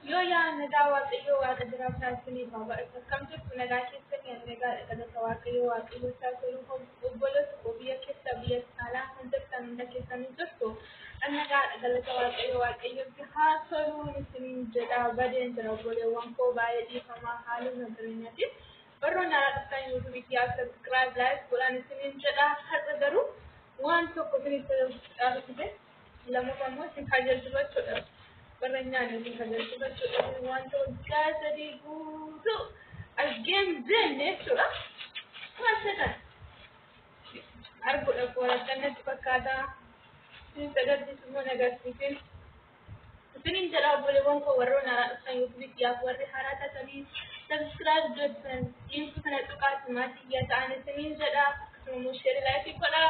Yoo yaa nagaa waaqayyoo waaqa jiraa taasisanii baabaa isa kam jirtu nagaa keessanii ani nagaa dhagalata waaqayyoo waaqayyoo taasisanii obboloota koo biyya keessa biyya alaa kan jirtan hunda keessanii jirtu ani nagaa dhagalata waaqayyoo waaqayyootti haa toluu isiniin jedha badeen jira obboleewwan koo baay'ee dhiifamaa haaluma jireenyatiin barroon alaa dhuftan yuutuubii kiyyaa sabiskiraayib laayik godhaan isiniin jedha har'a garuu waan tokko isiniif tajaajilaa Lammaffaa immoo isin kajeelchu jechuudha. Warra nyaanni isin kajeelchu jechuudha. Wanta waggaa sadii guutuu argeen jenne jechuudha. Waan seetan arguudha koo rakkannatti fakkaata. Isin sadarkiis immoo nagarsiisin. Isinin jedha obboleewwan koo warroon haaraa dhuftan yookiin biyyaaf warri haaraa taatanii sabiskiraayib jettan dhiirtu kana tuqaati maatii yaa ta'an isinin jedha. Akkasuma immoo sheerii laayifii godhaa.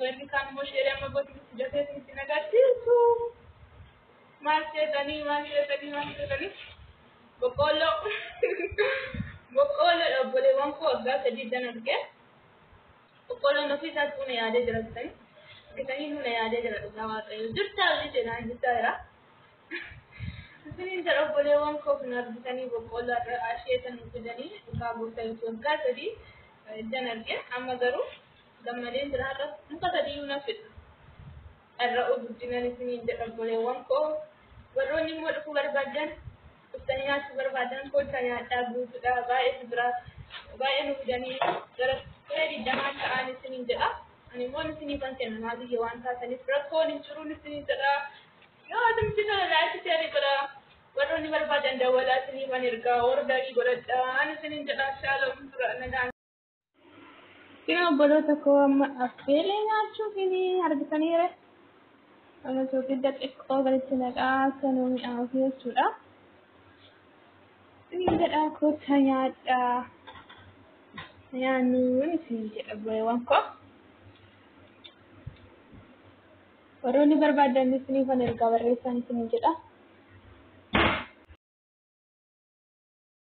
Warri kaan immoo sheerii amma godhu itti dafee itti nagarsiisu. Maal seetanii maal seetanii maal seetanii boqqoolloo boqqoolloo obboleewwan koo waggaa sadii dan arge boqqoolloon ofii isaas buna yaadee jira bitanii bitanii buna yaadee jira dhugaa waaqayyo jirtaa hojii seenaan jirtaa jira. Isiniin jedha obboleewwan koo kan argitanii boqqoolloo har'a asheeta nu fidanii dhugaa gooftaa Yesuus waggaa sadii ijjan arge amma garuu gammadeen jira har'a muka sadiyyuu nan fidha. Dharra'uu guddinan isiniin jedha obboleewwan koo warroonni immoo dhufuu barbaadan dhuftanii nyaachuu barbaadan koottaa nyaadhaa guutuudha baay'eetu jira baay'ee nu fidanii gara siree digdamaan ta'an isiniin jedha. Ani immoo isiniifan kenna maal biyya waan taataniif rakkoon hin jiruun isiniin jedha. Yoo atumti kana like share godha warronni barbaadan dawwalaa siniifan erga or like godhadha an isinin jedha shaala fuldura nagaan Isin obboloota koo amma affeelee nyaachuu kini argitaniire. Amma soogidda xiqqoo gaditti naqaa akka nu mi'aawu jechuudha. Isin jedha kottaa nyaadhaa. Nyaannuun isin jedha bu'eewwan koo. Warroonni barbaadan isiniif an ergaa barreessaan isiniin jedha.